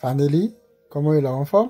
Faneli, kòman ou ye la, ou anfòm?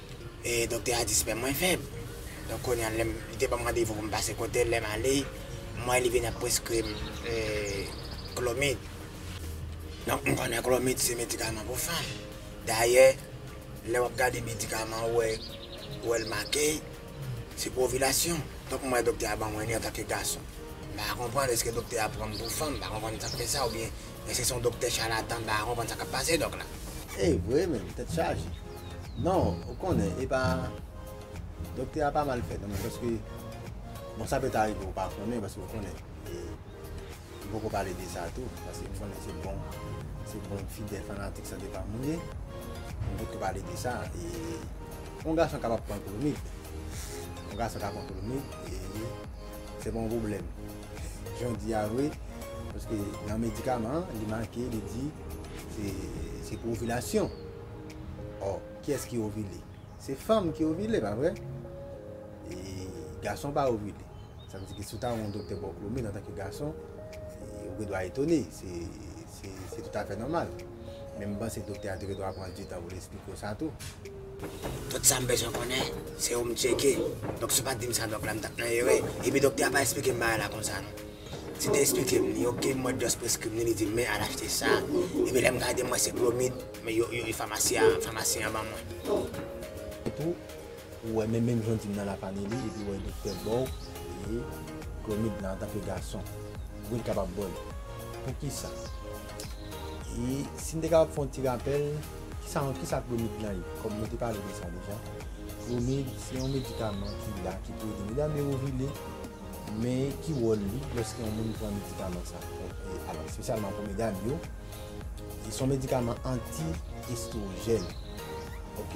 E doktè a di spèm mwen fèb. Donk kounye a lèm, li te banm randevou pou m pase kote l, lè m ale, m wè li vini ap preskri m klomid. Donk m konnen klomid se medikaman pou fanm. Dayè, lè w ap gade medikaman ou wè, ou wè l make, se pou ovilasyon. Donk m wè doktè a ban mwen li antanke gason. M pa konprann, èske doktè a pran m pou fanm? M pa konprann sa k fè sa oubyen èske se yon doktè chalatan? M pa konprann sa k ap pase dòk la. Evre menm, tèt chaje. Non ou konnen epa Doktè a pa mal fèt nan men paske bon sa pèt arive ou pa konnen paske ou konnen e m poko pale de sa tou paske m konnen se bon se bon fidèl fanatik sante pam ou ye m poko pale de sa e on gason kapab pran klonid on gason ka pran klonid e se pa yon pwoblèm jan w di a vre paske nan medikaman li make li di se se pou ovilasyon. Or, kiyès ki ovile? Se fanm ki ovile, pa vre? E gason pa ovile. Sa vle di ke si w ta wè yon doktè ba w klomid antanke gason, ou gen dwa etone. Se toutafè nòmal. Men m panse doktè a te gen dwa pran ditan pou l esplike w sa tou. Tout sa m bezwen konnen, se ou m tcheke. Donk si w pa t di m sa dòk la, m t ap nan erè. Epi doktè a pa esplike m bagay la konsa non. Si l te esplike m li, ok, m wè dòz preskri m li, li di m men al achte sa. Epi lè m gade m wè se klomid. Men yo yo e famasi a famasyen an ban mwen. Etou ou wè menm menm jan w di m nan lapane li epi wè doktè baw e klomid nan antanke gason pouki l kapab baw li? Poukisa? E si m te kapab fè yon ti rapèl kisa yon kisa klomid lan ye kòm nou te pale de sa deja klomid se yon medikaman ki la ki pou ede medam yo ovile men ki wòl li lòske yon moun pran medikaman sa alò espesyalman pou medam yo Li son medikaman anti estrojèn ok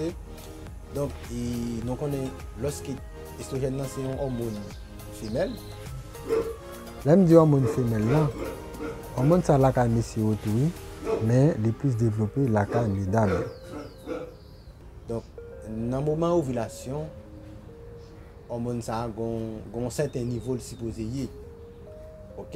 donk e nou konnen loske estrojèn nan se yon òmon femèl lèm di òmon femèl lan òmon sa lakay mesye yo tou wi men li plis devlope lakay medam yo donk nan moman ovilasyon òmon sa gon gon sèten nivo li sipoze ye ok.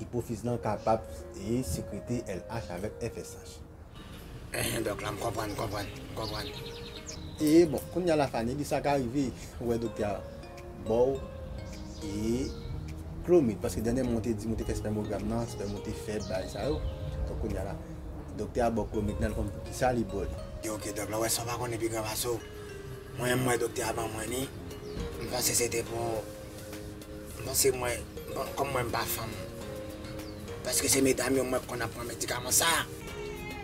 Ipofiz lan kapab e sekrete LH avèk FSH. Enhen dòk la m konprann m konprann m konprann ee bon kounya la Fanie di sa ka rive ou wè doktè a baw ee klomid paske dènyèman ou te di m ou te fè spèmogram nan spèm ou te fèb bagay sa yo donk kounya la doktè a baw klomid nan al konn poukisa li baw li. Ok dòk la ou wè san pa konnen pi gran pase w mwen menm m wè doktè a ban mwen li m panse se te pou Bon se mwen, bon kòm mwen m pa fanm, eske se medam yo mwen konn ap pran medikaman sa?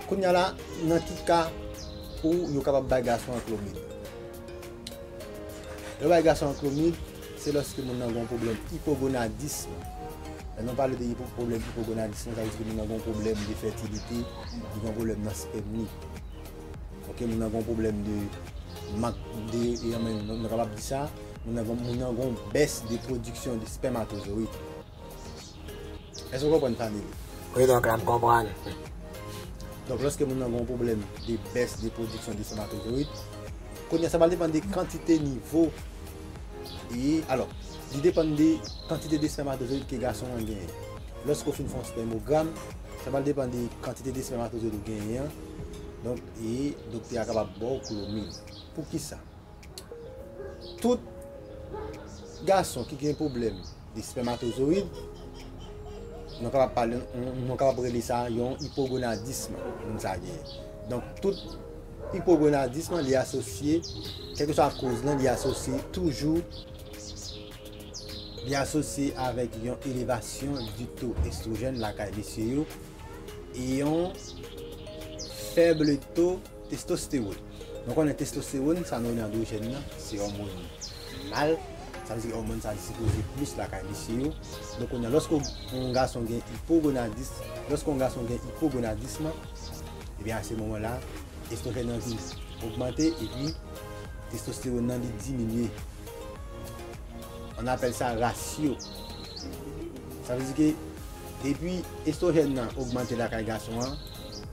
Kounya la nan ki ka pou yo kapab bay gason an klomid? Yo bay gason an klomid se lòske moun nan gen yon pwoblèm ipogonadism. Lè nou pale de pwoblèm ipogonadism sa vle di ke moun nan gen yon pwoblèm de fètilite, li gen yon pwoblèm nan spèm li. Ok moun nan gen yon pwoblèm de mank de, nou kapab di sa. Moun nan gon bès de pwodiksyon de spèmatozoyid. Èske ou konprann fanmi m? Wi dòk la m konprann. Donk lòske moun nan gon pwoblèm de bès de pwodiksyon de spèmatozoyid, kounye a sa pral depann de kantite nivo e alò li depann de kantite de spèmatozoyid ke gason an genyen. Lòske ou fin fè yon spèmogram, sa pral depann de kantite de spèmatozoyid ou genyen an, donk e doktè a kapab ba w klomid. Poukisa? tout gason ki gen pwoblèm de spèmatozoyid, nou kapab pale, nou kapab rele sa yon ipogonadism moun sa genyen. Donk, tout ipogonadism li asosye, kèlkeswa koz lan, li asosye toujou, li asosye avèk yon elevasyon di to estwojèn lakay mesye yo, e yon fèble to. Testostewòn, Nou konnen testostewòn, sa nou rele andwojèn nan, se òmòn mal, sa vle di òmòn sa li sipoze plis lakay mesye yo. Donk kounye a, lòske yon gason gen ipogonadis, lòske yon gason gen ipogonadism, ebyen a se moman la, estwojèn nan vin ogmante epi testostewòn nan li diminye. On apèl sa rasyo. Sa vle di ke depi estwojèn nan ogmante lakay gason an,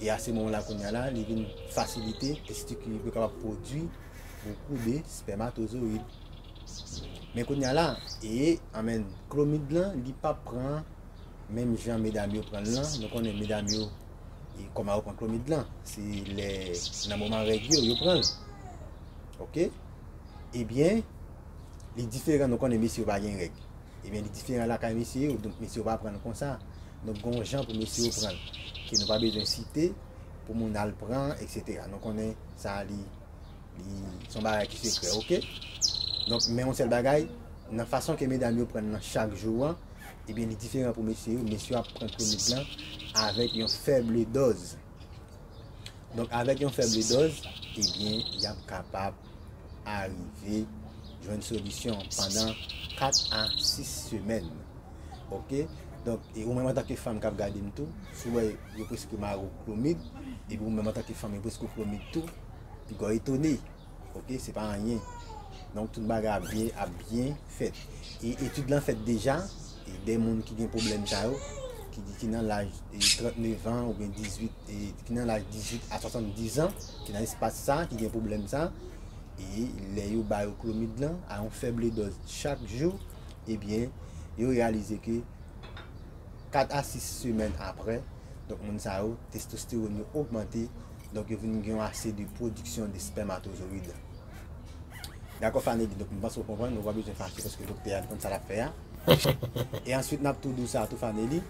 E a se moman la kounya la li vin fasilite testikil li pou yo kapab pwodui bokou de spèmatozoyid. Men kounya la, e an men klomid lan li pa pran menm jan medam yo pran l lan, nou konnen medam yo e kòman yo pran klomid lan, se lè nan moman règ yo yo pran l. Ok, ebyen li diferan nou konnen mesye yo pa gen règ. Ebyen li diferan lakay mesye yo, donk mesye yo pa pran l konsa. Donk gen yon jan pou mesye yo pran l, ke nou pa bezwen site, pou moun al pran, eksetera. Nou konnen sa li, li, se yon bagay ki sekrè, oke. Donk men yon sèl bagay, nan fason ke medam yo pran l nan chak jou an, ebyen li diferan pou mesye yo, mesye yo ap pran Clomid lan avèk yon fèble dòz. Donk avèk yon fèble dòz, ebyen y ap kapab arive jwenn solisyon pandan 4 a 6 semèn ok donk e ou menm antanke fanm kap gadem tou si ou wè yo preske mare ou klomid epi ou menm antanke fanm yo preske ou klomid tou piga w etone ok se pa anyen donk tout bagay ap byen ap byen fèt e etid lan fèt deja e de moun ki gen pwoblèm sa yo ki di ki nan laj 39 an oubyen 18 ki nan laj 18 a 70 an, ki nan espas sa, ki gen pwoblèm sa, e lè yo ba yo klomid lan, a yon fèble dòz chak jou, ebyen, yo reyalize ke 4 a 6 semèn apre, donk moun sa yo, testostewòn yo ogmante, donk yo vin gen yon ase de pwodiksyon de spèmatozoyid. Dakò Fanegi, donk m panse ou konprann, ou pa bezwen fache paske doktè a li konn sa l ap fè a. E answit n ap tou di w sa tou Faneli,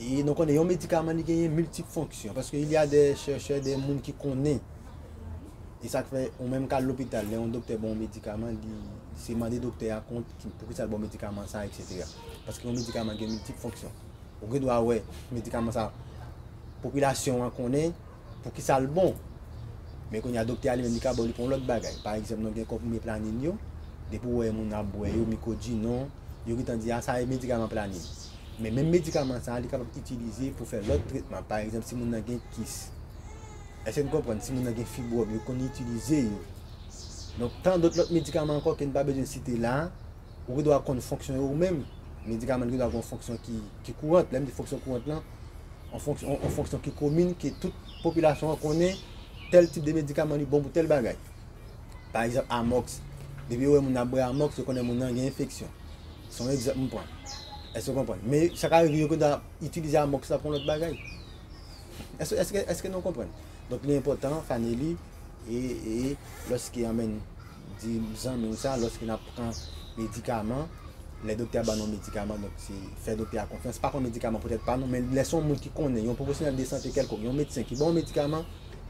E nou konnen yon medikaman li genyen miltip fonksyon. Paske il y a de chèchè, de moun ki konnen. E sa k fè, ou menm ka al lopital, lè yon doktè ban yon medikaman, li se mande doktè a kont pou ki sa l ban w medikaman sa, eksetera. Paske yon medikaman gen miltip fonksyon. Ou gen dwa wè medikaman sa, popilasyon an konnen. poukisa l bon. Men kounye a doktè a li menm li ka ba w li pou yon lòt bagay. Pa egzanp nou gen konprime planin yo, depi w wè moun ap bwè yo, Micodinor, yo gentan di a sa e medikaman planin. Men menm medikaman sa a li kapab itilize pou fè lòt tretman. Pa egzanp si moun nan gen kis. Èske n konprann? Si moun nan gen fibwòm, yo konn itilize yo. Donk tan dòt lòt medikaman ankò ke n pa bezwen site la a, ou gendwa konn fonksyon yo ou menm. Medikaman yo gendwa gen yon fonksyon ki kourant. Lè m di fonksyon kourant lan. yon fonksyon ki komin, ke tout popilasyon an konnen, tèl tip de medikaman li bon pou tèl bagay. Pa egzanp, amòks, depi yo wè moun ap bwè amòks, yo konnen moun nan gen enfeksyon. Se yon egzanp m pran. Èske nou konprann? Men, sa ka rive yo gen dwa itilize amòks la pou yon lòt bagay. Èske nou konprann? Donk, li enpòtan, Fanely, e, e, lòske yon menn. Di zanmi w sa lòske n ap pran medikaman, lè doktè a ban nou yon medikaman, donk se fè doktè a konfyans, pa pran medikaman poutèt pa nou, men lè se yon moun ki konnen, yon pwofesyonèl de sante kèlkonk, yon medsen ki ban w medikaman,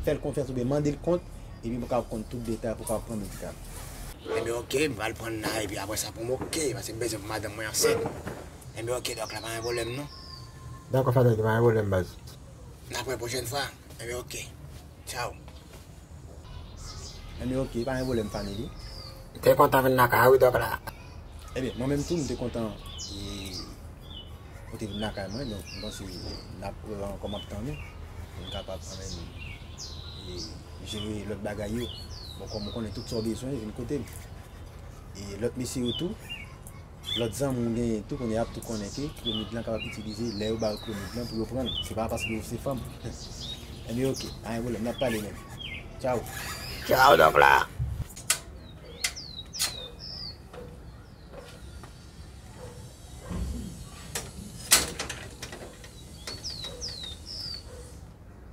fè l konfyans oubyen mande l kont, epi pou w kapab konn tout detay pou w kapab pran medikaman an. Enben ok, m pral pran l la, epi apresa pou m ok, paske m bezwen pou madanm mwen ansent. Enben ok dòk la, pa gen pwoblèm non. Dakò sa dòk la, pa gen pwoblèm baz. N ap wè pwochèn fwa. Ebyen ok Ciao. Ebyen ok pa gen pwoblèm family. M te kontan vin nan kay ou wi Dòk la. Ebyen mwen menm tou m te kontan ou te vin nan kay mwen donk m panse n ap wè ankò m ap tann ou pou n kapab anmweyy jere lòt bagay yo bon kòm ou konnen tout sa w bezwen vin kote m e lòt mesye yo tou. Lòt zanmi ou genyen tou kounye a ap tou konnen ke klomid lan kapab itilize lè yo ba yo klomid lan pou yo pran l. Se pa paske ou se fanm. Enben ok, pa gen pwoblèm, n ap pale men. Tchaw! Tchaw donk la!